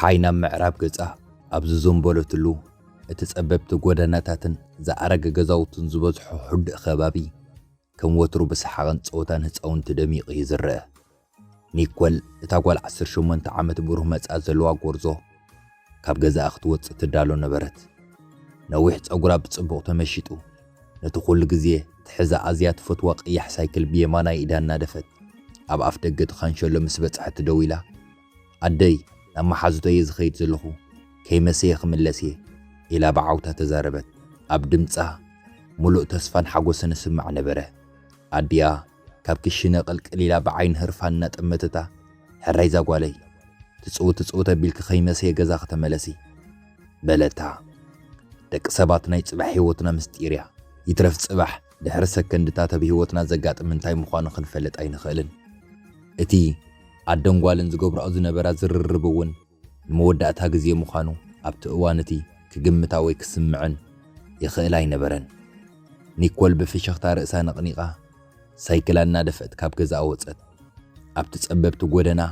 ፀሓይ ናብ ምዕራብ ገፃ ኣብ ዝዘንበለትሉ እቲ ጸበብቲ ጎደናታትን ዝኣረገ ገዛውትን ዝበዝሖ ሕዱእ ከባቢ ከም ወትሩ ብሰሓቕን ጸወታን ህፃውንቲ ደሚቑ እዩ ዝረአ። ኒኮል፣ እታ ጓል ዓሰርተ ሸሞንተ ዓመት ብሩህ መጻኢ ዘለዋ ጐርዞ፣ ካብ ገዛኣ ክትወጽእ ትዳሎ ነበረት። ነዊሕ ጸጕራ ብጽቡቕ ተመሺጡ፣ ነቲ ኵሉ ግዜ ትሕዛ ኣዝያ ትፈትዋ ቀያሕ ሳይክል ብየማናይ ኢዳ እናደፈት ኣብ ኣፍደገ እቲ ካንሸሎ ምስ በጽሐት ደው ኢላ፣ ኣደይ፣ ናብ መሓዙተይ እየ ዝኸይድ ዘለኹ፣ ከይመሰየ ክምለስ እየ፣ ኢላ ብዓውታ ተዛረበት። ኣብ ድምጻ፣ ምሉእ ተስፋን ሓጐስን እስማዕ ነበረ። ኣዲኣ፣ ካብ ክሽነ ቅልቅል ኢላ ብዓይኒ ህርፋን እናጠመተታ፣ ሕራይ ዛጓለይ፣ ትጽው ትጽውት ኣቢልኪ ከይመሰየ ገዛኺ ተመለሲ። በለታ። ደቂ ሰባት ናይ ጽባሕ ህይወትና ምስጢር'ያ። ይትረፍ ጽባሕ ድሕሪ ሰከንድታት ኣብ ህይወትና ዘጋጥም እንታይ ምዃኑ ክንፈልጥ ኣይንኽእልን። እቲ ኣደን ጓልን ዝገብራኦ ዝነበራ ዝርርብ'ውን፣ ንመወዳእታ ግዜ ምዃኑ ኣብቲ እዋን እቲ ክግምታ ወይ ክስምዐን ይኽእል ኣይነበረን። ኒኮል ብፍሽኽታ ርእሳ ነቕኒቓ ሳይክላ እናደፍአት ካብ ገዛኣ ወጸት። ኣብቲ ጸበብቲ ጎደና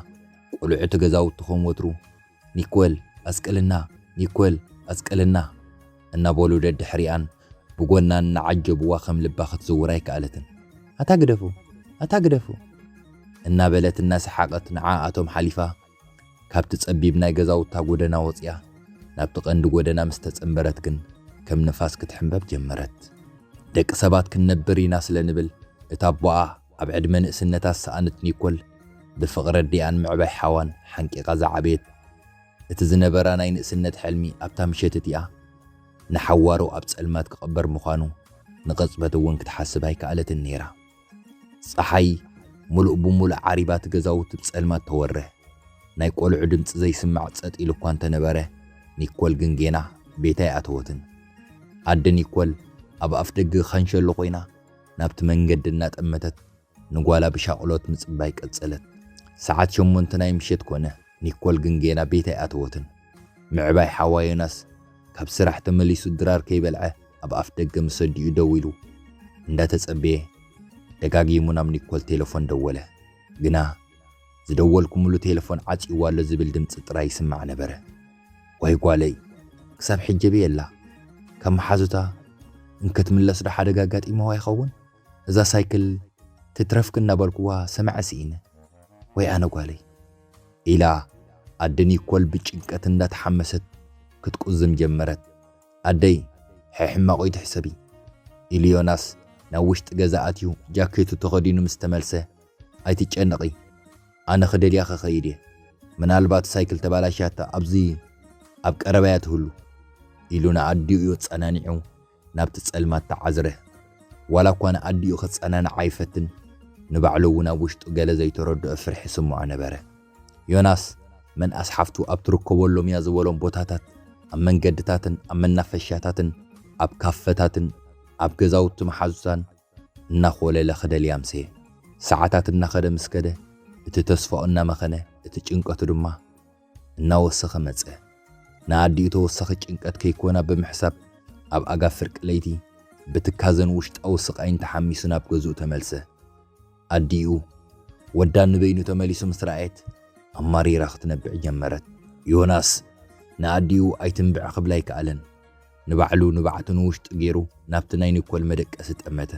ቁልዑቲ ገዛውቲ ከም ወትሩ ኒኮል ኣስቅልና! ኒኮል ኣስቅልና! እናበሉ ደድሕሪኣን ብጎና እናዓጀብዋ ከም ልባ ክትዝውር ኣይከኣለትን። ኣታ ግደፉ! ኣታ ግደፉ! እናበለት እናሰሓቐት ንዓኣቶም ሓሊፋ ካብቲ ጸቢብ ናይ ገዛውታ ጎደና ወጺኣ ናብቲ ቀንዲ ጎደና ምስ ተጸንበረት ግን ከም ንፋስ ክትሕምበብ ጀመረት። ደቂ ሰባት ክንነብር ኢና ስለ ንብል እታ ኣቦኣ ኣብ ዕድመ ንእስነታ ዝሰኣነት ኒኮል ብፍቕሪ ኣዲኣን ምዕባይ ሓዋን ሓንቂቓ ዝዓበየት እቲ ዝነበራ ናይ ንእስነት ሕልሚ ኣብታ ምሸት እቲኣ ንሓዋሩ ኣብ ጸልማት ክቕበር ምዃኑ ንቕጽበት እውን ክትሓስብ ኣይከኣለትን ነይራ። ጸሓይ ምሉእ ብምሉእ ዓሪባ እቲ ገዛውቲ ብጸልማት ተወረ። ናይ ቆልዑ ድምጺ ዘይስማዕ ጸጥ ኢሉ እኳ እንተነበረ፣ ኒኮል ግን ጌና ቤታ ኣይኣተወትን። ኣደ ኒኮል ኣብ ኣፍደገ ኻንሸሎ ኮይና ናብቲ መንገዲ እናጠመተት ንጓላ ብሻቕሎት ምጽባይ ቀጸለት። ሰዓት ሸሞንተ ናይ ምሸት ኮነ። ኒኮል ግን ጌና ቤት ኣይኣተወትን። ምዕባይ ሓዋ ዮናስ ካብ ስራሕ ተመሊሱ ድራር ከይበልዐ ኣብ ኣፍደገ ምስ ኣዲኡ ደው ኢሉ እንዳተጸበየ ደጋጊሙ ናብ ኒኮል ቴለፎን ደወለ። ግና ዝደወልኩምሉ ቴለፎን ዓጽይዋ ኣሎ ዝብል ድምጺ ጥራይ ይስማዕ ነበረ። ዋይ ጓለይ ክሳብ ሕጂ ኣበይ ኣላ? ካብ መሓዙታ እንክትምለስ ዶ ሓደጋ ኣጋጢምዋ ይኸውን? እዛ ሳይክል ትትረፍኪ እናበልኩዋ ሰምዐ ስኢነ። ወይ ኣነ ጓለይ! ኢላ ኣደ ኒኮል ብጭንቀት እንዳተሓመሰት ክትቁዝም ጀመረት። ኣደይ! ሕሕ ሕማቕ እይትሕሰቢ! ኢሉ ዮናስ ናብ ውሽጢ ገዛ ኣትዩ ጃኬቱ ተኸዲኑ ምስ ተመልሰ፣ ኣይትጨነቒ ኣነ ክደልያ ክኸይድ እየ። ምናልባት ሳይክል ተባላሽያታ ኣብዚ ኣብ ቀረባ'ያ ትህሉ። ኢሉ ንኣዲኡ ኣጸናኒዑ ናብቲ ጸልማት ተዓዝረ። ዋላ እኳ ንኣዲኡ ክጸናንዓ ይፈትን፣ ንባዕሉ እውን ኣብ ውሽጡ ገለ ዘይተረድኦ ፍርሒ ይስምዖ ነበረ። ዮናስ፣ መንኣስ ሓፍቱ ኣብ ትርከበሎም እያ ዝበሎም ቦታታት፣ ኣብ መንገድታትን ኣብ መናፈሻታትን ኣብ ካፈታትን ኣብ ገዛውቲ መሓዙታን እናኾለለ ክደልያ ኣምሰየ። ሰዓታት እናኸደ ምስ ከደ፣ እቲ ተስፋኡ እናመኸነ፣ እቲ ጭንቀቱ ድማ። እናወሰኸ መጸ። ንኣዲኡ ተወሳኺ ጭንቀት ከይኮና ብምሕሳብ ኣብ ኣጋ ፍርቂ ለይቲ ብትካዘን ውሽጣዊ ስቓይን ተሓሚሱ ናብ ገዝኡ ተመልሰ። ኣዲኡ ወዳ ንበይኑ ተመሊሱ ምስ ረኣየት ኣማሪራ ክትነብዕ ጀመረት። ዮናስ ንኣዲኡ ኣይትንብዒ ክብላ ኣይከኣለን። ንባዕሉ ንብዓቱ ንውሽጡ ገይሩ ናብቲ ናይ ኒኮል መደቀሲ ጠመተ።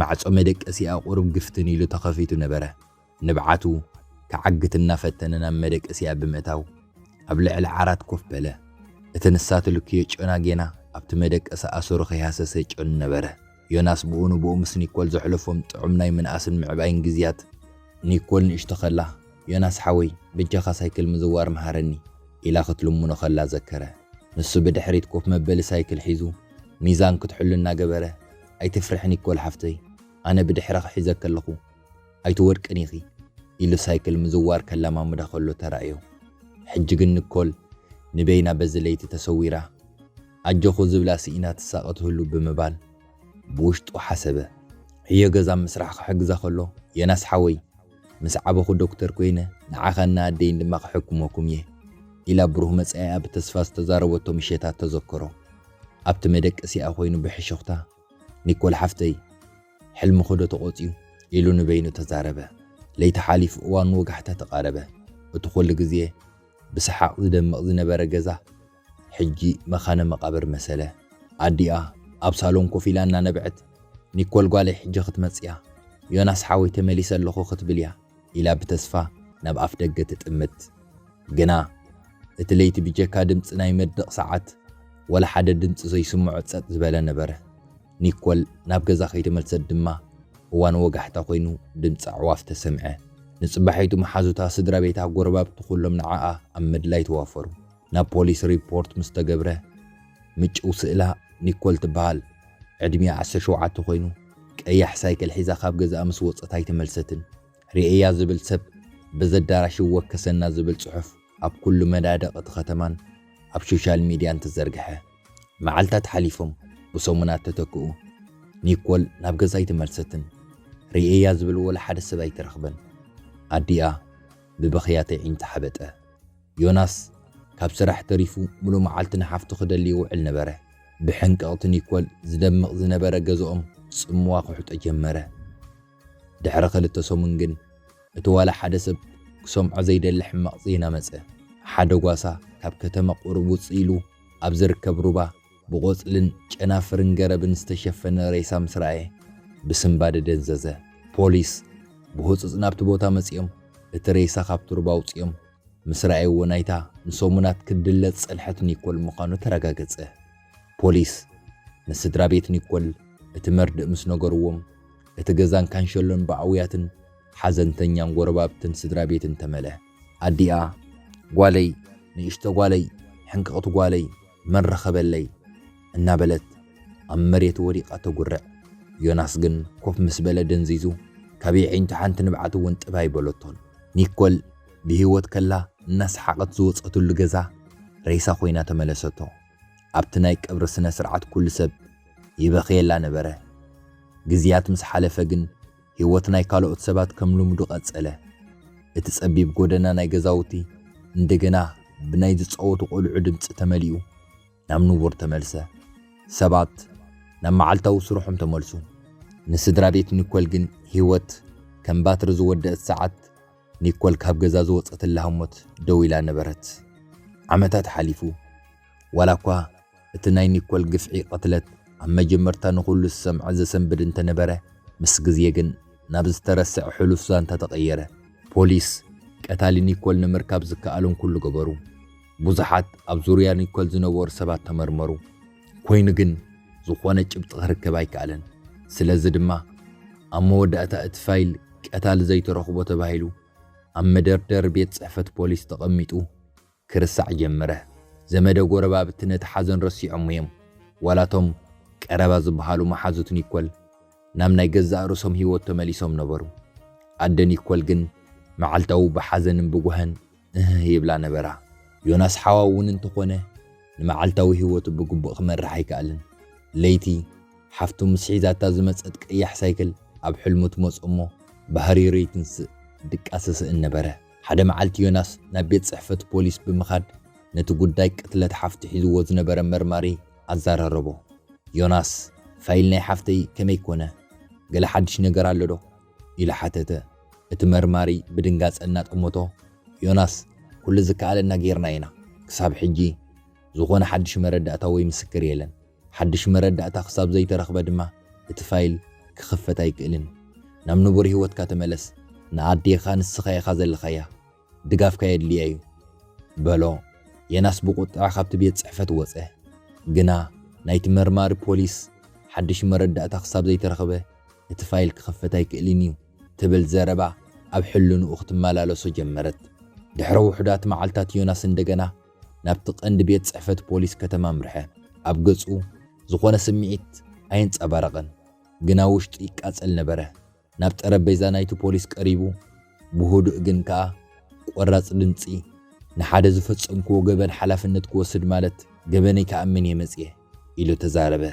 ማዕጾ መደቀሲኣ ቁሩብ ግፍትን ኢሉ ተኸፊቱ ነበረ። ንብዓቱ ክዓግት እናፈተነ ናብ መደቀሲኣ ብምእታው ኣብ ልዕሊ ዓራት ኮፍ በለ። እቲ ንሳ ትልክዮ ጨና ጌና ኣብቲ መደቀሲ ኣሰሩ ከይሃሰሰ ጨኑ ነበረ። ዮናስ ብኡ ንብኡ ምስ ኒኮል ዘሕለፎም ጥዑም ናይ ምንኣስን ምዕባይን ግዝያት፣ ኒኮል ንእሽቶ ከላ ዮናስ ሓወይ በጃኻ ሳይክል ምዝዋር ምሃረኒ ኢላ ክትልምኖ ከላ ዘከረ። ንሱ ብድሕሪት ኮፍ መበሊ ሳይክል ሒዙ ሚዛን ክትሕሉ እናገበረ ኣይትፍርሒ ኒኮል ሓፍተይ ኣነ ብድሕረኺ ሒዘኪ ኣለኹ። ኣይትወድቅን ኢኺ ኢሉ ሳይክል ምዝዋር ከለማምዳ ከሎ ተራእዮ። ሕጂ ግን ንኮል ንበይና በዚ ለይቲ ተሰዊራ ኣጆኹ ዝብላ ስኢና ትሳቐ ትህሉ ብምባል ብውሽጡ ሓሰበ። ዕዮ ገዛ ምስራሕ ክሕግዛ ከሎ ዮናስ ሓወይ ምስ ዓበኹ ዶክተር ኮይነ ንዓኻን ንኣደይን ድማ ክሕክመኩም እየ ኢላ ብሩህ መጻኢኣ ብተስፋ ዝተዛረበቶ ምሸታት ተዘከሮ። ኣብቲ መደቀሲኣ ኮይኑ ብሕሹኽታ፣ ኒኮል ሓፍተይ! ሕልምኹ'ዶ ተቖጽዩ? ኢሉ ንበይኑ ተዛረበ። ለይቲ ሓሊፉ እዋን ወጋሕታ ተቓረበ። እቲ ኩሉ ግዜ ብሰሓቕ ዝደምቕ ዝነበረ ገዛ ሕጂ መካነ መቓብር መሰለ። ኣዲኣ ኣብ ሳሎን ኮፍ ኢላ እናነበዐት፣ ኒኮል ጓለይ ሕጂ ክትመጽ'ያ፣ ዮናስ ሓወይ ተመሊሰ ኣለኹ ክትብል'ያ ኢላ ብተስፋ ናብ ኣፍደገ ትጥምት። ግና እቲ ለይቲ ብጀካ ድምጺ ናይ መድረቕ ሰዓት ወላ ሓደ ድምጺ ዘይስምዖ ጸጥ ዝበለ ነበረ። ኒኮል ናብ ገዛ ከይተመልሰት ድማ፣ እዋን ወጋሕታ ኮይኑ ድምጺ ኣዕዋፍ ተሰምዐ። ንጽባሒቱ መሓዙታ፣ ስድራ ቤታ፣ ጎረባብቲ ኩሎም ንዓኣ ኣብ ምድላይ ተዋፈሩ። ናብ ፖሊስ ሪፖርት ምስ ተገብረ፣ ምጭው ስእላ ኒኮል ትበሃል። ዕድሚኣ ዓሰርተ ሸውዓተ ኮይኑ፣ ቀያሕ ሳይክል ሒዛ ካብ ገዛኣ ምስ ወጸት ኣይተመልሰትን። ርእየያ ዝብል ሰብ በዚ ኣዳራሽ ይወከሰና ዝብል ጽሑፍ ኣብ ኩሉ መዳድቕ እቲ ከተማን ኣብ ሾሻል ሚድያን ተዘርግሐ። መዓልታት ሓሊፎም ብሰሙናት ተተክኡ። ኒኮል ናብ ገዛ ኣይተመልሰትን። ርእየያ ዝብል ወላ ሓደ ሰብ ኣይተረኽበን። ኣዲኣ ብብኽያት ኣዒንታ ሓበጠ። ዮናስ ካብ ስራሕ ተሪፉ ምሉእ መዓልቲ ንሓፍቱ ክደሊ ይውዕል ነበረ። ብሕንቅቕቲ ኒኮል ዝደምቕ ዝነበረ ገዝኦም ጽምዋ ክውሕጦ ጀመረ። ድሕሪ ክልተ ሰሙን ግን እቲ ዋላ ሓደ ሰብ ክሰምዖ ዘይደሊ ሕማቕ ዜና መጸ። ሓደ ጓሳ ካብ ከተማ ቁሩብ ውጽእ ኢሉ ኣብ ዝርከብ ሩባ ብቖጽልን ጨናፍርን ገረብን ዝተሸፈነ ሬሳ ምስ ረኣየ ብስንባደ ደንዘዘ። ፖሊስ ብህጹጽ ናብቲ ቦታ መጺኦም እቲ ሬሳ ካብቲ ሩባ ኣውጺኦም ምስ ረኣይዎ ናይታ ንሰሙናት ክትድለ ዝጸንሐት ኒኮል ምዃኑ ተረጋገጸ። ፖሊስ ንስድራ ቤት ኒኮል እቲ መርድእ ምስ ነገርዎም፣ እቲ ገዛን ካንሸሎን ብኣውያትን ሓዘንተኛን ጎረባብትን ስድራ ቤትን ተመለ። ኣዲኣ፣ ጓለይ፣ ንእሽቶ ጓለይ፣ ሕንቅቕቲ ጓለይ፣ መን ረኸበለይ? እናበለት ኣብ መሬት ወዲቓ ተጉርዕ። ዮናስ ግን ኮፍ ምስ በለ ደንዚዙ፣ ካብ የዒንቱ ሓንቲ ንብዓት እውን ጥብ ኣይበለቶን። ኒኮል ብህይወት ከላ እናሰሓቐት ዝወጸትሉ ገዛ ሬሳ ኮይና ተመለሰቶ። ኣብቲ ናይ ቀብሪ ስነ ስርዓት ኩሉ ሰብ ይበኽየላ ነበረ። ግዝያት ምስ ሓለፈ ግን ህይወት ናይ ካልኦት ሰባት ከም ልምዱ ቀጸለ። እቲ ጸቢብ ጎደና ናይ ገዛውቲ እንደገና ብናይ ዝጻወቱ ቆልዑ ድምጺ ተመሊኡ ናብ ንቡር ተመልሰ። ሰባት ናብ መዓልታዊ ስርሖም ተመልሱ። ንስድራ ቤት ኒኮል ግን ህይወት ከም ባትሪ ዝወደእት ሰዓት ኒኮል ካብ ገዛ ዝወጸትላ ህሞት ደው ኢላ ነበረት። ዓመታት ሓሊፉ። ዋላኳ እቲ ናይ ኒኮል ግፍዒ ቅትለት ኣብ መጀመርታ ንኹሉ ዝሰምዐ ዘሰንብድ እንተነበረ፣ ምስ ግዜ ግን ናብ ዝተረስዐ ሕሉፍ ዛንታ ተቐየረ። ፖሊስ ቀታሊ ኒኮል ንምርካብ ዝከኣሎም ኩሉ ገበሩ። ብዙሓት ኣብ ዙርያ ኒኮል ዝነበሩ ሰባት ተመርመሩ፣ ኰይኑ ግን ዝዀነ ጭብጢ ክርከብ ኣይከኣለን። ስለዚ ድማ ኣብ መወዳእታ እቲ ፋይል ቀታሊ ዘይተረኽቦ ተባሂሉ ኣብ መደርደሪ ቤት ጽሕፈት ፖሊስ ተቐሚጡ ክርሳዕ ጀመረ። ዘመደ ጐረባብቲ ነቲ ሓዘን ረሲዖሞ እዮም፣ ዋላ እቶም ቀረባ ዝበሃሉ መሓዙት ኒኮል ናብ ናይ ገዛእ ርእሶም ህይወት ተመሊሶም ነበሩ። ኣደ ኒኮል ግን መዓልታዊ ብሓዘንን ብጓህን እህህ ይብላ ነበራ። ዮናስ ሓዋ እውን እንተኾነ ንመዓልታዊ ህይወቱ ብግቡእ ክመርሕ ኣይከኣለን። ለይቲ፣ ሓፍቱ ምስ ሒዛታ ዝመጸት ቀያሕ ሳይክል ኣብ ሕልሙ ትመጾ እሞ ብሃሪሩ ይትንስእ ድቃስ ይስእን ነበረ። ሓደ መዓልቲ ዮናስ ናብ ቤት ጽሕፈት ፖሊስ ብምኻድ ነቲ ጉዳይ ቅትለት ሓፍቱ ሒዝዎ ዝነበረ መርማሪ ኣዛራረቦ። ዮናስ፣ ፋይል ናይ ሓፍተይ ከመይ ኮነ? ገለ ሓድሽ ነገር ኣሎዶ? ኢሉ ሓተተ። እቲ መርማሪ ብድንጋጸ እናጠመቶ፣ ዮናስ፣ ኩሉ ዝከኣለና ገይርና ኢና። ክሳብ ሕጂ ዝዀነ ሓድሽ መረዳእታ ወይ ምስክር የለን። ሓድሽ መረዳእታ ክሳብ ዘይተረኽበ ድማ እቲ ፋይል ክኽፈት ኣይክእልን። ናብ ንቡር ህይወትካ ተመለስ። ንኣዴኻ ንስኻ ኢኻ ዘለኻያ። ድጋፍካ የድልየ'ዩ። በሎ። ዬናስ ብቑጥዐ ካብቲ ቤት ጽሕፈት ወጸ። ግና ናይቲ መርማሪ ፖሊስ ሓድሽ መረዳእታ ክሳብ ዘይተረኽበ እቲ ፋይል ክኽፈት ኣይክእልን'ዩ ትብል ዘረባ ኣብ ሕልንኡ ክትመላለሶ ጀመረት። ድሕሪ ውሑዳት መዓልታት ዮናስ እንደገና ናብቲ ቀንዲ ቤት ጽሕፈት ፖሊስ ከተማ ኣምርሐ። ኣብ ገጹ ዝኾነ ስምዒት ኣየንጸባረቐን፣ ግና ውሽጡ ይቃጸል ነበረ። ናብ ጠረጴዛ ናይቲ ፖሊስ ቀሪቡ ብህዱእ ግን ከኣ ቆራጽ ድምጺ፣ ንሓደ ዝፈጸምክዎ ገበን ሓላፍነት ክወስድ ማለት ገበነይ ክኣምን እየ መጺኤ። ኢሉ ተዛረበ።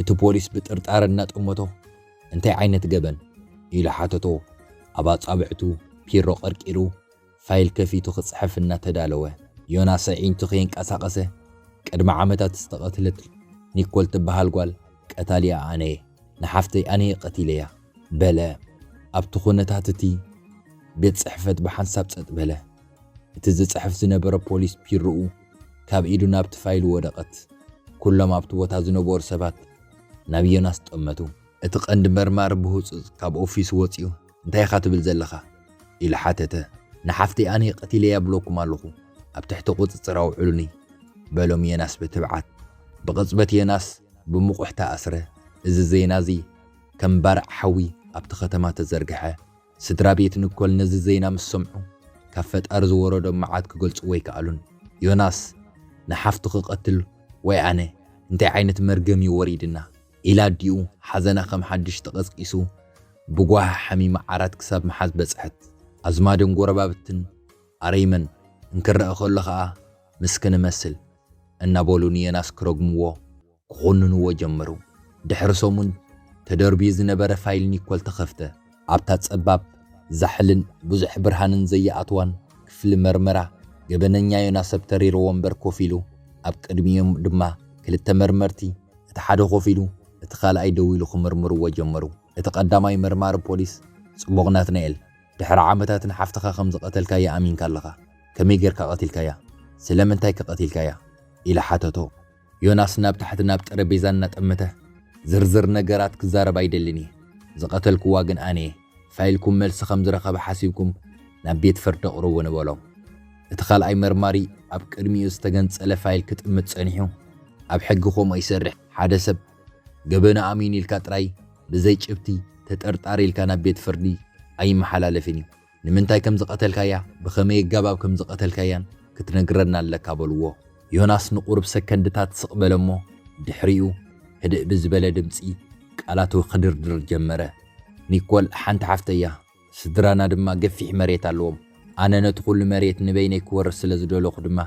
እቲ ፖሊስ ብጥርጣረ እናጠመቶ፣ እንታይ ዓይነት ገበን? ኢሉ ሓተቶ፣ ኣብ ኣጻብዕቱ ፒሮ ቀርቂሩ። ፋይል ከፊቱ ክጽሕፍ እናተዳለወ፣ ዮናስ ኣዒንቱ ከየንቀሳቐሰ፣ ቅድሚ ዓመታት ዝተቐትለት ኒኮል ትበሃል ጓል፣ ቀታሊኣ ኣነ'የ፣ ንሓፍተይ ኣነ'የ ቀቲለያ፣ በለ። ኣብቲ ኵነታት እቲ ቤት ጽሕፈት ብሓንሳብ ጸጥ በለ። እቲ ዝጽሕፍ ዝነበረ ፖሊስ ቢሮኡ ካብ ኢዱ ናብቲ ፋይል ወደቐት። ኵሎም ኣብቲ ቦታ ዝነበሩ ሰባት ናብ ዮናስ ጠመቱ። እቲ ቀንዲ መርማሪ ብህጹጽ ካብ ኦፊሱ ወጺኡ እንታይ ኢኻ ትብል ዘለኻ? ኢሉ ሓተተ። ንሓፍተይ ኣነ ቀቲለያ እብለኩም ኣለኹ፣ ኣብ ትሕቲ ቁጽጽር ኣውዕሉኒ፣ በሎም ዮናስ ብትብዓት። ብቕጽበት ዮናስ ብሙቑሕ ተኣስረ። እዚ ዜና እዚ ከም ባርዕ ሓዊ ኣብቲ ከተማ ተዘርግሐ። ስድራ ቤት ንኮል ነዚ ዜና ምስ ሰምዑ ካብ ፈጣሪ ዝወረዶም መዓት ክገልጽዎ ኣይከኣሉን። ዮናስ ንሓፍቱ ክቐትል ወይ ኣነ እንታይ ዓይነት መርገም እዩ ወሪድና? ኢላ ኣዲኡ ሓዘና ከም ሓድሽ ተቐስቂሱ ብጓሂ ሓሚማ ዓራት ክሳብ ምሓዝ በጽሐት። ኣዝማድን ጐረባብትን ኣረይመን እንክረኣ ከሎ ከኣ ምስክን እመስል እናበሉ ንየናስ ክረግምዎ፣ ክዅንንዎ ጀመሩ። ድሕሪ ሰሙን ተደርብዩ ዝነበረ ፋይል ኒኮል ተኸፍተ። ኣብታ ጸባብ፣ ዛሕልን ብዙሕ ብርሃንን ዘይኣትዋን ክፍሊ መርመራ፣ ገበነኛ ዮናስ ኣብ ተሪር ወንበር ኮፍ ኢሉ፣ ኣብ ቅድሚኦም ድማ ክልተ መርመርቲ፣ እቲ ሓደ ኮፍ ኢሉ፣ እቲ ካልኣይ ደው ኢሉ ክምርምርዎ ጀመሩ። እቲ ቀዳማይ መርማሪ ፖሊስ፣ ጽቡቕ ናትናኤል፣ ድሕሪ ዓመታት ንሓፍትኻ ከም ዝቐተልካያ ኣሚንካ ኣለኻ፣ ከመይ ጌርካ ቀቲልካያ? ስለምንታይከ ቀቲልካያ? ኢሉ ሓተቶ። ዮናስ ናብ ታሕቲ ናብ ጠረጴዛ እናጠመተ፣ ዝርዝር ነገራት ክዛረብ ኣይደልን እየ። ዝቐተልክዋ ግን ኣነ እየ። ፋይልኩም መልሲ ከም ዝረኸበ ሓሲብኩም ናብ ቤት ፍርዲ ኣቕርቡኒ በሎም። እቲ ካልኣይ መርማሪ ኣብ ቅድሚኡ ዝተገንጸለ ፋይል ክጥምት ጸኒሑ፣ ኣብ ሕጊ ከምኡ ኣይሰርሕን። ሓደ ሰብ ገበኑ ኣሚኑ ኢልካ ጥራይ ብዘይ ጭብቲ ተጠርጣሪ ኢልካ ናብ ቤት ፍርዲ ኣይመሓላለፍን እዩ። ንምንታይ ከም ዝቐተልካያ ብኸመይ ኣገባብ ከም ዝቐተልካያን ክትነግረና ኣለካ በልዎ። ዮናስ ንቑሩብ ሰከንድታት ስቕ በለ እሞ ድሕሪኡ ህድእ ብዝበለ ድምጺ ቃላቱ ክድርድር ጀመረ። ኒኮል ሓንቲ ሓፍተይ እያ፣ ስድራና ድማ ገፊሕ መሬት ኣለዎም፣ ኣነ ነቲ ኩሉ መሬት ንበይነይ ክወርስ ስለ ዝደለኹ ድማ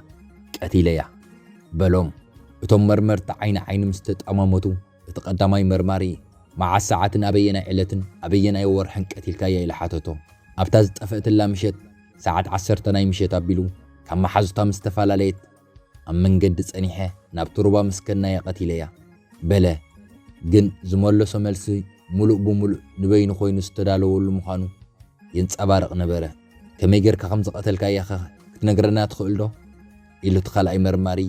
ቀቲለያ። በሎም። እቶም መርመርቲ ዓይኒ ዓይኒ ምስ ተጠማመቱ። እቲ ቀዳማይ መርማሪ፣ መዓስ ሰዓትን ኣበየናይ ዕለትን ኣበየናይ ወርሕን ቀቲልካያ ኢሉ ሓተቶ። ኣብታ ዝጠፈእትላ ምሸት ሰዓት ዓሰርተ ናይ ምሸት ኣቢሉ ካብ መሓዙታ ምስ ተፈላለየት ኣብ መንገዲ ጸኒሐ ናብቲ ሩባ ምስ ከድናያ ቀቲለያ። በለ። ግን ዝመለሶ መልሲ ምሉእ ብምሉእ ንበይኑ ኮይኑ ዝተዳለወሉ ምዃኑ የንጸባርቕ ነበረ። ከመይ ጌርካ ከም ዝቐተልካያኸ ክትነግረና ትኽእልዶ? ኢሉ እቲ ካልኣይ መርማሪ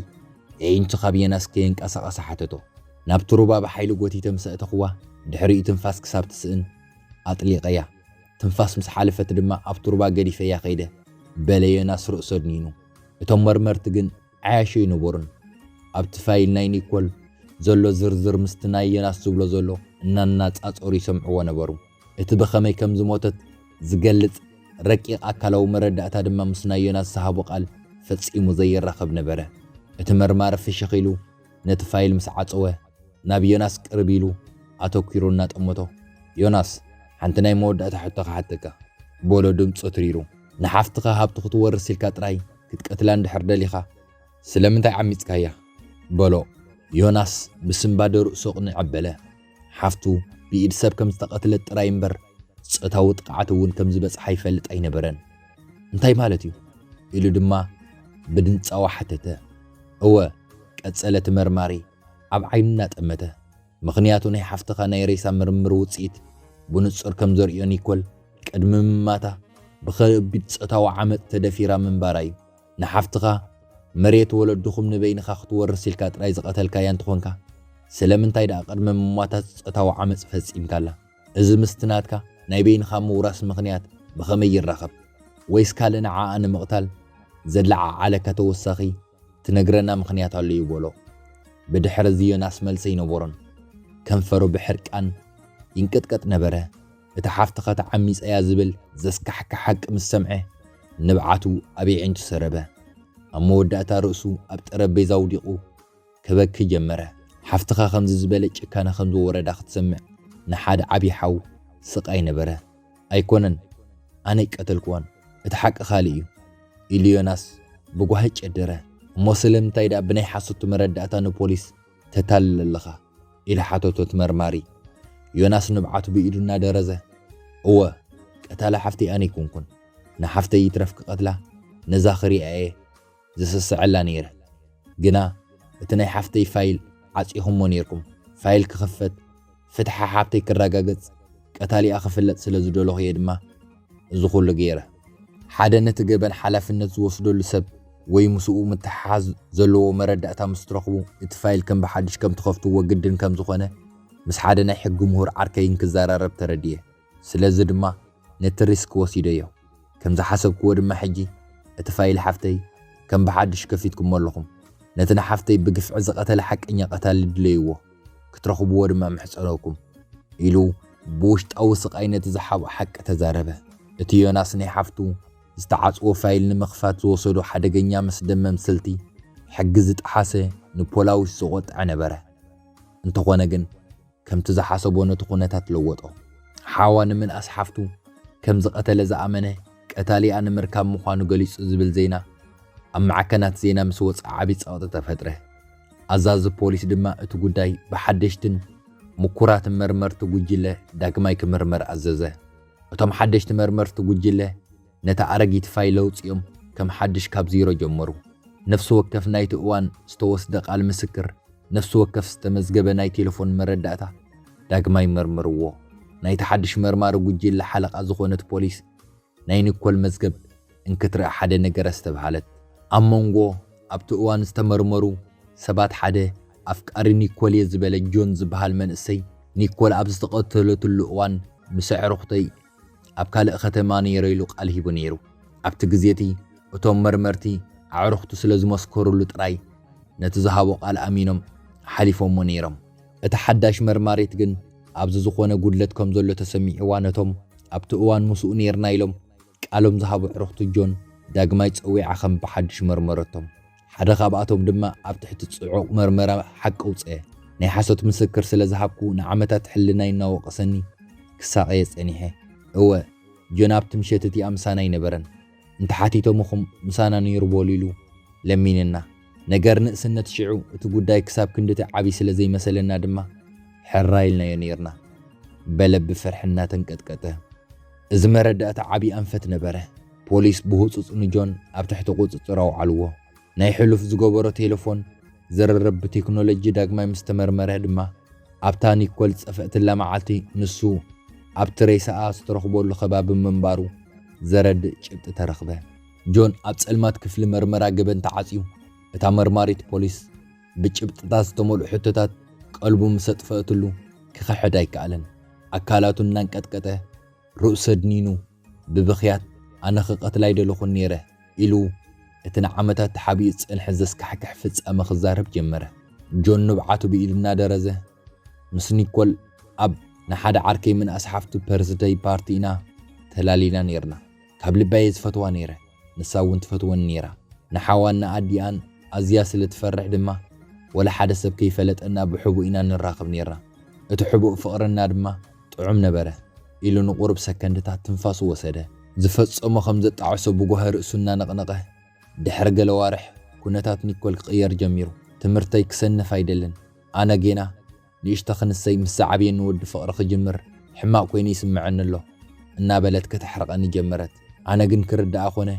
ኤኢንቱ ካብ ዬናስ ከየንቀሳቐሰ ሓተቶ። ናብቲ ሩባ ብሓይሊ ጎቲተ ምስ ኣእተኹዋ ድሕሪኡ ትንፋስ ክሳብ ትስእን ኣጥሊቐያ። ትንፋስ ምስ ሓለፈት ድማ ኣብቲ ሩባ ገዲፈያ ከይደ በለ ዬናስ ርእሱ ኣድኒኑ። እቶም መርመርቲ ግን ዓያሹ ኣይነበሩን። ኣብቲ ፋይል ናይ ኒኮል ዘሎ ዝርዝር ምስቲ ናይ ዬናስ ዝብሎ ዘሎ እናነጻጸሩ ይሰምዕዎ ነበሩ። እቲ ብኸመይ ከም ዝሞተት ዝገልጽ ረቂቕ ኣካላዊ መረዳእታ ድማ ምስ ናይ ዮናስ ዝሃቦ ቃል ፈጺሙ ዘይራኸብ ነበረ። እቲ መርማሪ ፍሽኽ ኢሉ ነቲ ፋይል ምስ ዓጸወ፣ ናብ ዮናስ ቅርብ ኢሉ ኣተኲሩ እናጠመቶ፣ ዮናስ፣ ሓንቲ ናይ መወዳእታ ሕቶ ክሓተካ፣ በሎ ድምጹ ኣትሪሩ። ንሓፍትኻ ሃብቲ ክትወርስ ኢልካ ጥራይ ክትቀትላ እንድሕር ደሊኻ፣ ስለምንታይ ዓሚጽካያ? በሎ። ዮናስ ብስንባደ ርእሱ ኣቕኒዕ ኣበለ። ሓፍቱ ብኢድ ሰብ ከም ዝተቐትለት ጥራይ እምበር ጾታዊ ጥቕዓት እውን ከም ዝበጽሓ ይፈልጥ ኣይነበረን። እንታይ ማለት እዩ? ኢሉ ድማ ብድንጻወ ሓተተ። እወ፣ ቀጸለ እቲ መርማሪ ኣብ ዓይኑ እናጠመተ። ምኽንያቱ ናይ ሓፍትኻ ናይ ሬሳ ምርምር ውጽኢት ብንጹር ከም ዘርእዮ ኒኮል ቅድሚ ምማታ ብኸቢድ ጾታዊ ዓመጽ ተደፊራ ምንባራ እዩ። ንሓፍትኻ መሬት ወለድኹም ንበይንኻ ክትወርስ ኢልካ ጥራይ ዝቐተልካያ እንተኾንካ ስለምንታይ ደኣ ቅድመ ምሟታ ጾታዊ ዓመጽ ፈጺምካላ? እዚ ምስቲ ናትካ ናይ በይንኻ ምውራስ ምኽንያት ብኸመይ ይራኸብ? ወይስ ካልእ ንዓኣ ንምቕታል ዘለዓዓለካ ተወሳኺ ትነግረና ምኽንያት ኣሎ'ዩ በሎ። ብድሕር'ዚ ዮናስ መልሰ ኣይነበሮን። ከንፈሩ ብሕርቃን ይንቅጥቀጥ ነበረ። እታ ሓፍትኻ ተዓሚጸ'ያ ዝብል ዘስካሕክሕ ሓቂ ምስ ሰምዐ፣ ንብዓቱ ኣብ የዒንቱ ሰረበ። ኣብ መወዳእታ ርእሱ ኣብ ጠረጴዛ ኣውዲቑ ከበኪ ጀመረ። ሓፍትኻ ከምዚ ዝበለ ጭካነ ከም ዝወረዳ ክትሰምዕ ንሓደ ዓቢ ሓው ስቓይ ነበረ። ኣይኮነን ኣነ ኣይቀተልክዋን፣ እቲ ሓቂ ካልእ'ዩ፣ ኢሉ ዮናስ ብጓሂ ጨደረ። እሞ ስለምንታይ ደኣ ብናይ ሓሶት መረዳእታ ንፖሊስ ተታልል ኣለኻ ኢላ ሓተቶ እቲ መርማሪ። ዮናስ ንብዓቱ ብኢዱ እናደረዘ እወ ቀታሊ ሓፍተይ ኣነ ኣይኮንኩን፣ ንሓፍተይ ይትረፍ ክቐትላ ነዛ ክሪኣ እየ ዝስስዐላ ነይረ፣ ግና እቲ ናይ ሓፍተይ ፋይል ዓጺኹሞ ነይርኩም፣ ፋይል ክኽፈት፣ ፍትሒ ሓብተይ ክረጋገጽ ቀታሊኣ ክፍለጥ ስለ ዝደለኹ እየ ድማ እዚ ኩሉ ገይረ። ሓደ ነቲ ገበን ሓላፍነት ዝወስደሉ ሰብ ወይ ምስኡ ምትሕሓዝ ዘለዎ መረዳእታ ምስ ትረኽቡ እቲ ፋይል ከም ብሓድሽ ከም ትኸፍትዎ ግድን ከም ዝኾነ ምስ ሓደ ናይ ሕጊ ምሁር ዓርከይ እንክዘራረብ ተረዲኤ። ስለዚ ድማ ነቲ ሪስክ ወሲደዮ። ከም ዝሓሰብክዎ ድማ ሕጂ እቲ ፋይል ሓፍተይ ከም ብሓድሽ ከፊትኩሞ ኣለኹም። ነቲ ንሓፍተይ ብግፍዒ ዝቐተለ ሓቀኛ ቀታሊ ድለይዎ፣ ክትረኽብዎ ድማ እምሕጸነኩም። ኢሉ ብውሽጣዊ ስቓይ ነቲ ዝሓብኦ ሓቂ ተዛረበ። እቲ ዮናስ ናይ ሓፍቱ ዝተዓጽወ ፋይል ንምኽፋት ዝወሰዶ ሓደገኛ መስደመም ስልቲ፣ ሕጊ ዝጠሓሰ ንፖላዊስ ዘቖጥዐ ነበረ። እንተኾነ ግን። ከምቲ ዝሓሰቦ ነቲ ኩነታት ለወጦ። ሓዋ ንምንኣስ ሓፍቱ ከም ዝቐተለ ዝኣመነ ቀታሊኣ ንምርካብ ምዃኑ ገሊጹ ዝብል ዜና ኣብ ማዕከናት ዜና ምስ ወጽኣ ዓቢ ጸቕጢ ተፈጥረ። ኣዛዚ ፖሊስ ድማ እቲ ጉዳይ ብሓደሽትን ምኩራትን መርመርቲ ጉጅለ ዳግማይ ክምርመር ኣዘዘ። እቶም ሓደሽቲ መርመርቲ ጉጅለ፣ ነታ ኣረጊት ፋይል ኣውጺኦም ከም ሓድሽ ካብ ዜሮ ጀመሩ። ነፍሲ ወከፍ ናይቲ እዋን ዝተወስደ ቃል ምስክር፣ ነፍሲ ወከፍ ዝተመዝገበ ናይ ቴለፎን መረዳእታ ዳግማይ መርምርዎ። ናይቲ ሓድሽ መርማሪ ጉጅለ ሓለቓ ዝኾነት ፖሊስ ናይ ኒኮል መዝገብ እንክትርኢ ሓደ ነገር ኣስተብሃለት። ኣብ መንጎ ኣብቲ እዋን ዝተመርመሩ ሰባት ሓደ ኣፍቃሪ ኒኮል'የ ዝበለ ጆን ዝበሃል መንእሰይ፣ ኒኮል ኣብ ዝተቐተለትሉ እዋን ምስ ኣዕሩኽተይ ኣብ ካልእ ኸተማ ነይረ ኢሉ ቃል ሂቡ ነይሩ። ኣብቲ ግዜ እቲ፣ እቶም መርመርቲ ኣዕሩኽቱ ስለ ዝመስከሩሉ ጥራይ ነቲ ዝሃቦ ቓል ኣሚኖም ሓሊፎሞ ነይሮም። እታ ሓዳሽ መርማሪት ግን ኣብዚ ዝዀነ ጕድለት ከም ዘሎ ተሰሚዕዋ ነቶም ኣብቲ እዋን ምስኡ ነይርና ኢሎም ቃሎም ዝሃቡ ኣዕሩኽቱ ጆን ዳግማይ ጸዊዓ ኸም ብሓድሽ መርመረቶም። ሓደ ካብኣቶም ድማ ኣብ ትሕቲ ጽዑቕ መርመራ ሓቂ ኣውጸ። ናይ ሓሶት ምስክር ስለ ዝሃብኩ ንዓመታት ሕልናይ እናወቐሰኒ ክሳቐየ ጸኒሐ። እወ፣ ጆን ኣብቲ ምሸት እቲኣ ምሳና ኣይነበረን። እንተ ሓቲቶምኹም ምሳና ነይሩ በሉ ኢሉ ለሚንና። ነገር ንእስነት ሽዑ እቲ ጉዳይ ክሳብ ክንድቲ ዓቢ ስለ ዘይመሰለና ድማ ሕራይ ኢልናዮ ነይርና። በለ ብፍርሒ እናተንቀጥቀጠ። እዚ መረዳእታ ዓቢ ኣንፈት ነበረ። ፖሊስ ብህጹጽ ንጆን ኣብ ትሕቲ ቁጽጽር ኣውዓልዎ። ናይ ሕሉፍ ዝገበሮ ቴለፎን ዝርርብ ብቴክኖሎጂ ዳግማይ ምስ ተመርመረ ድማ፣ ኣብታ ኒኮል ዝጸፍአትላ መዓልቲ ንሱ ኣብቲ ሬሳኣ ዝተረኽበሉ ከባቢ ምንባሩ ዘረድእ ጭብጢ ተረኽበ። ጆን ኣብ ጸልማት ክፍሊ መርመራ ገበን ተዓጽዩ፣ እታ መርማሪት ፖሊስ ብጭብጥታት ዝተመልኡ ሕቶታት ቀልቡ ምስ ኣጥፈአትሉ ክኽሕድ ኣይከኣለን። ኣካላቱ እናንቀጥቀጠ ርእሱ ኣድኒኑ፣ ብብኽያት ኣነ ክቐትላ ኣይደለኹን ነይረ ኢሉ እቲ ንዓመታት ተሓቢኡ ዝጸንሐ ዘስካሕክሕ ፍጻመ ክዛረብ ጀመረ። ጆን ንብዓቱ ብኢዱ እናደረዘ፣ ምስ ኒኮል ኣብ ንሓደ ዓርከይ ምንኣስ ሓፍቱ ፐርዝደይ ፓርቲ ኢና ተላሊና ነይርና። ካብ ልቢ'የ ዝፈትዋ ነይረ። ንሳ እውን ትፈትወኒ ነይራ። ንሓዋን ንኣዲኣን ኣዝያ ስለ ትፈርሕ ድማ ወላ ሓደ ሰብ ከይፈለጠና ብሕቡእ ኢና ንራኸብ ነይርና። እቲ ሕቡእ ፍቕርና ድማ ጥዑም ነበረ። ኢሉ ንቑሩብ ሰከንድታት ትንፋሱ ወሰደ። ዝፈጸሞ ከም ዘጣዕሶ ብጓሂ ርእሱ እናነቕነቐ፣ ድሕሪ ገለ ኣዋርሕ ኩነታት ኒኮል ክቕየር ጀሚሩ። ትምህርተይ ክሰንፍ ኣይደልን። ኣነ ጌና። ንእሽቶ ክንሰይ ምስ ዝዓብየኒ ወዲ ፍቕሪ ክጅምር ሕማቕ ኮይኑ ይስመዐኒ ኣሎ እናበለት ከተሕርቐኒ ጀመረት። ኣነ ግን ክርደኣ ኮነ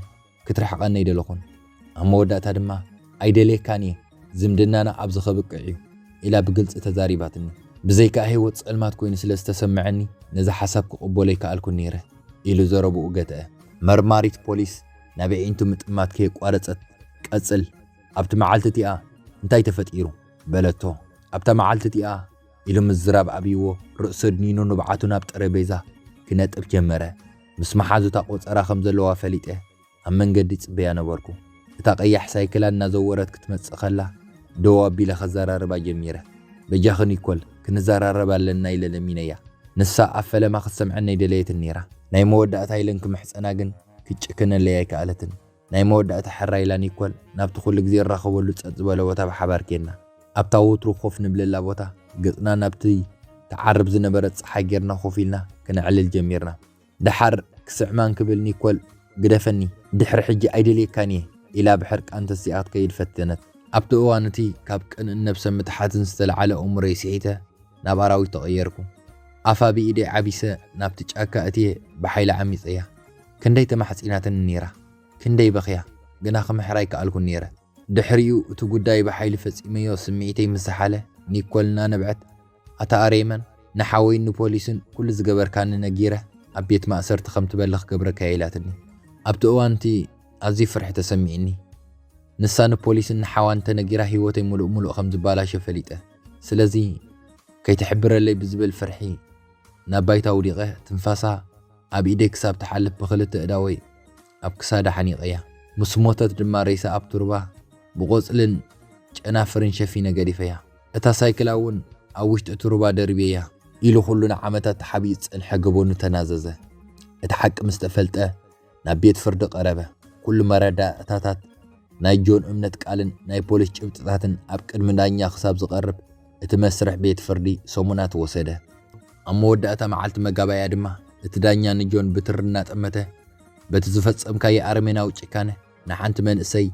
ክትርሕቐኒ ኣይደለኹን። ኣብ መወዳእታ ድማ ኣይደልየካን እየ፣ ዝምድናና ኣብዚ ከብቅዕ እዩ ኢላ ብግልፂ ተዛሪባትኒ። ብዘይካኣ ህይወት ፀልማት ኮይኑ ስለ ዝተሰመዐኒ ነዚ ሓሳብ ክቕበሎ ኣይከኣልኩን ነይረ ኢሉ ዘረብኡ ገትአ። መርማሪት ፖሊስ ናብ ኣዒንቱ ምጥማት ከየቋረፀት፣ ቀፅል ኣብቲ መዓልቲ እቲኣ እንታይ ተፈጢሩ? በለቶ። ኣብታ መዓልቲ እቲኣ ኢሉ ምዝራብ ኣብይዎ ርእሱ ኣድኒኑ ንብዓቱ ናብ ጠረጴዛ ክነጥፍ ጀመረ። ምስ መሓዙታ ቆጸራ ከም ዘለዋ ፈሊጠ ኣብ መንገዲ ይጽበያ ነበርኩ። እታ ቀያሕ ሳይክላ እናዘወረት ክትመጽእ ከላ ደው ኣቢለ ከዘራርባ ጀሚረ። በጃኺ ኒኮል ክንዘራረብ ኣለና ኢለ ለሚነያ። ንሳ ኣብ ፈለማ ክትሰምዐኒ ኣይደለየትን ነይራ። ናይ መወዳእታ ኢለን ክምሕጸና ግን ክትጭክነለይ ኣይከኣለትን። ናይ መወዳእታ ሕራይ ኢላ ኒኮል ናብቲ ኩሉ ግዜ ንራኸበሉ ጸጥ ዝበለ ቦታ ብሓባር ኬድና። ኣብታ ወትሩ ኮፍ ንብለላ ቦታ ገጽና ናብቲ ትዓርብ ዝነበረት ጸሓይ ጌርና ኮፍ ኢልና ክነዕልል ጀሚርና። ደሓር ክስዕማን ክብል ኒኮል ግደፈኒ ድሕሪ ሕጂ ኣይደልየካን እየ ኢላ ብሕርቃን ተሲኣ ክትከይድ ፈተነት። ኣብቲ እዋን እቲ ካብ ቅንእን ነብሰ ምትሓትን ዝተለዓለ ኣእምሮይ ስሒተ ናብ ኣራዊት ተቐየርኩ። ኣፋ ብኢደይ ዓቢሰ ናብቲ ጫካ እትየ ብሓይሊ ዓሚጸያ። ክንደይ ተማሕጺናትኒ ነይራ፣ ክንደይ በኽያ፣ ግና ክምሕር ኣይከኣልኩን ነይረ። ድሕሪኡ እቲ ጉዳይ ብሓይሊ ፈጺመዮ ስምዒተይ ምስ ዝሓለ፣ ኒኮል እናነብዐት፣ ኣታ ኣሬመን፣ ንሓወይን ንፖሊስን ኩሉ ዝገበርካኒ ነጊረ ኣብ ቤት ማእሰርቲ ከም ትበሊ ክገብረካ'የ ኢላትኒ። ኣብቲ እዋን እቲ ኣዝዩ ፍርሒ ተሰሚዑኒ። ንሳ ንፖሊስን ንሓዋን እንተ ነጊራ ህይወተይ ምሉእ ምሉእ ከም ዝባላሾ ፈሊጠ። ስለዚ ከይትሕብረለይ ብዝብል ፍርሒ ናብ ባይታ ውዲቐ ትንፋሳ ኣብ ኢደይ ክሳብ ትሓልፍ ብኽልተ ኣእዳወይ ኣብ ክሳዳ ሓኒቐያ። ምስ ሞተት ድማ ሬሳ ኣብቲ ሩባ ብቖጽልን ጨናፍርን ሸፊነ ገዲፈያ። እታ ሳይክላ እውን ኣብ ውሽጢ እቲ ሩባ ደርብየያ። ኢሉ ኹሉ ንዓመታት ተሓቢኡ ዝጸንሐ ገበኑ ተናዘዘ። እቲ ሓቂ ምስ ተፈልጠ ናብ ቤት ፍርዲ ቀረበ። ኩሉ መረዳእታታት፣ ናይ ጆን እምነት ቃልን ናይ ፖሊስ ጭብጥታትን ኣብ ቅድሚ ዳኛ ክሳብ ዝቐርብ እቲ መስርሕ ቤት ፍርዲ ሰሙናት ወሰደ። ኣብ መወዳእታ መዓልቲ መጋባእያ ድማ እቲ ዳኛ ንጆን ብትሪ እናጠመተ በቲ ዝፈጸምካዮ ኣረሜናዊ ጭካነ ንሓንቲ መንእሰይ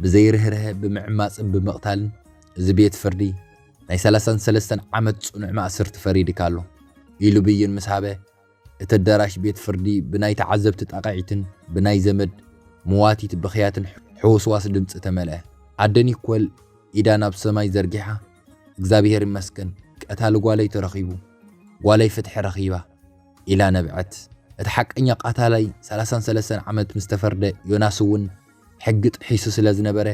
ብዘይ ርህርሀ ብምዕማጽን ብምቕታልን እዚ ቤት ፍርዲ ናይ ሰላሳን ሰለስተን ዓመት ጽኑዕ ማእስርቲ ፈሪድካ ኣሎ ኢሉ ብይን ምስ ሃበ እቲ ኣዳራሽ ቤት ፍርዲ ብናይ ተዓዘብቲ ጣቕዒትን ብናይ ዘመድ መዋቲት ብኽያትን ሕውስዋስ ድምጺ ተመልአ። ኣደ ኒኮል ኢዳ ናብ ሰማይ ዘርጊሓ፣ እግዚኣብሄር ይመስገን ቀታሊ ጓለይ ተረኺቡ፣ ጓለይ ፍትሒ ረኺባ ኢላ ነብዐት። እቲ ሓቀኛ ቃታላይ ሰላሳን ሰለስተን ዓመት ምስ ተፈርደ ዮናስ እውን ሕጊ ጥሒሱ ስለ ዝነበረ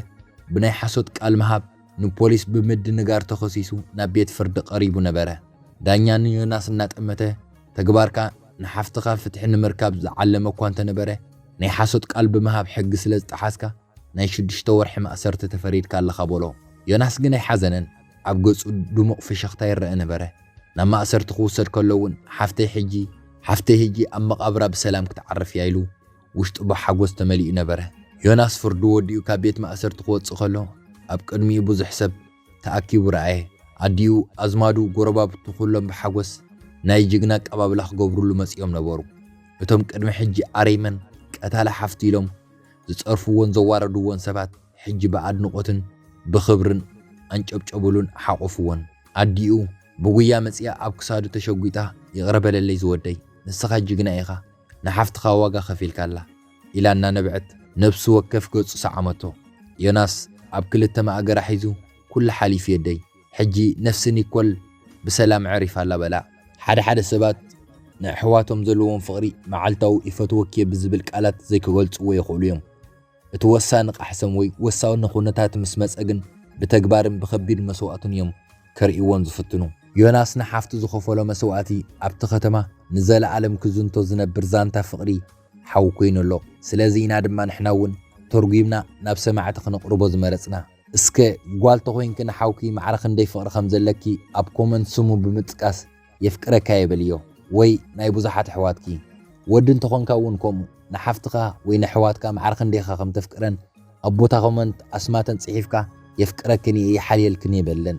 ብናይ ሓሶት ቃል ምሃብ ንፖሊስ ብምድንጋር ተኸሲሱ ናብ ቤት ፍርዲ ቀሪቡ ነበረ። ዳኛ ንዮናስ እናጠመተ ተግባርካ ንሓፍትኻ ፍትሒ ንምርካብ ዝዓለመ እኳ እንተነበረ ናይ ሓሶት ቃል ብምሃብ ሕጊ ስለ ዝጠሓስካ ናይ ሽዱሽተ ወርሒ ማእሰርቲ ተፈሪድካ ኣለኻ በሎ። ዮናስ ግን ኣይሓዘነን፣ ኣብ ገጹ ድሙቕ ፍሽኽታ ይረኣ ነበረ። ናብ ማእሰርቲ ክውሰድ ከሎ እውን ሓፍተይ ሕጂ፣ ሓፍተይ ሕጂ ኣብ መቓብራ ብሰላም ክትዓርፍ እያ ኢሉ ውሽጡ ብሓጎስ ተመሊኡ ነበረ። ዮናስ ፍርዱ ወዲኡ ካብ ቤት ማእሰርቲ ክወጽእ ከሎ ኣብ ቅድሚኡ ብዙሕ ሰብ፣ ተኣኪቡ ረኣየ። ኣዲኡ፣ ኣዝማዱ፣ ጎረባብቱ ኩሎም ብሓጎስ ናይ ጅግና ኣቀባብላ ክገብሩሉ መጺኦም ነበሩ። እቶም ቅድሚ ሕጂ ኣረይመን ቀታሊ ሓፍቱ ኢሎም ዝጸርፍዎን ዘዋረድዎን ሰባት ሕጂ ብኣድንቖትን ብኽብርን ኣንጨብጨቡሉን ሓቖፍዎን። ኣዲኡ ብጉያ መጺኣ ኣብ ክሳዱ ተሸጒጣ ይቕረ በለለይ ዝወደይ ንስኻ ጅግና ኢኻ ንሓፍትኻ ዋጋ ከፊልካላ። ኢላ እናነበዐት ነብሲ ወከፍ ገጹ ሰዓመቶ። ዮናስ ኣብ ክልተ ማእገራ ሒዙ፣ ኩሉ ሓሊፉ የደይ፣ ሕጂ ነፍሲ ኒኮል ብሰላም ኣዕሪፋ ኣላ በላ። ሓደ ሓደ ሰባት ንኣሕዋቶም ዘለዎም ፍቕሪ መዓልታዊ ይፈትወኪ'የ ብዝብል ቃላት ዘይክገልጽዎ ይኽእሉ እዮም። እቲ ወሳኒ ቃሕሰም ወይ ወሳኒ ኩነታት ምስ መጸ ግን ብተግባርን ብከቢድ መስዋእትን እዮም ከርእይዎም ዝፍትኑ። ዮናስ ንሓፍቱ ዝኸፈሎ መስዋእቲ ኣብቲ ከተማ ንዘለኣለም ክዝንቶ ዝነብር ዛንታ ፍቕሪ ሓው ኮይኑ ኣሎ ስለዚ ኢና ድማ ንሕና ውን ተርጉምና ናብ ሰማዕቲ ክነቅርቦ ዝመረጽና። እስከ ጓል ተኮይንኪ ንሓውኪ ማዕረ ክንደይ ፍቅሪ ከም ዘለኪ ኣብ ኮመንት ስሙ ብምጥቃስ የፍቅረካየ በልዮ ወይ ናይ ብዙሓት ኣሕዋትኪ ወዲ እንተኮንካ ውን ከምኡ ንሓፍትካ ወይ ነሕዋትካ ማዕረ ክንደይ ኢካ ከም ተፍቅረን ኣብ ቦታ ኮመንት ኣስማተን ጽሒፍካ የፍቅረክን ኢየ ይሓልየልክን ኢየ በለን።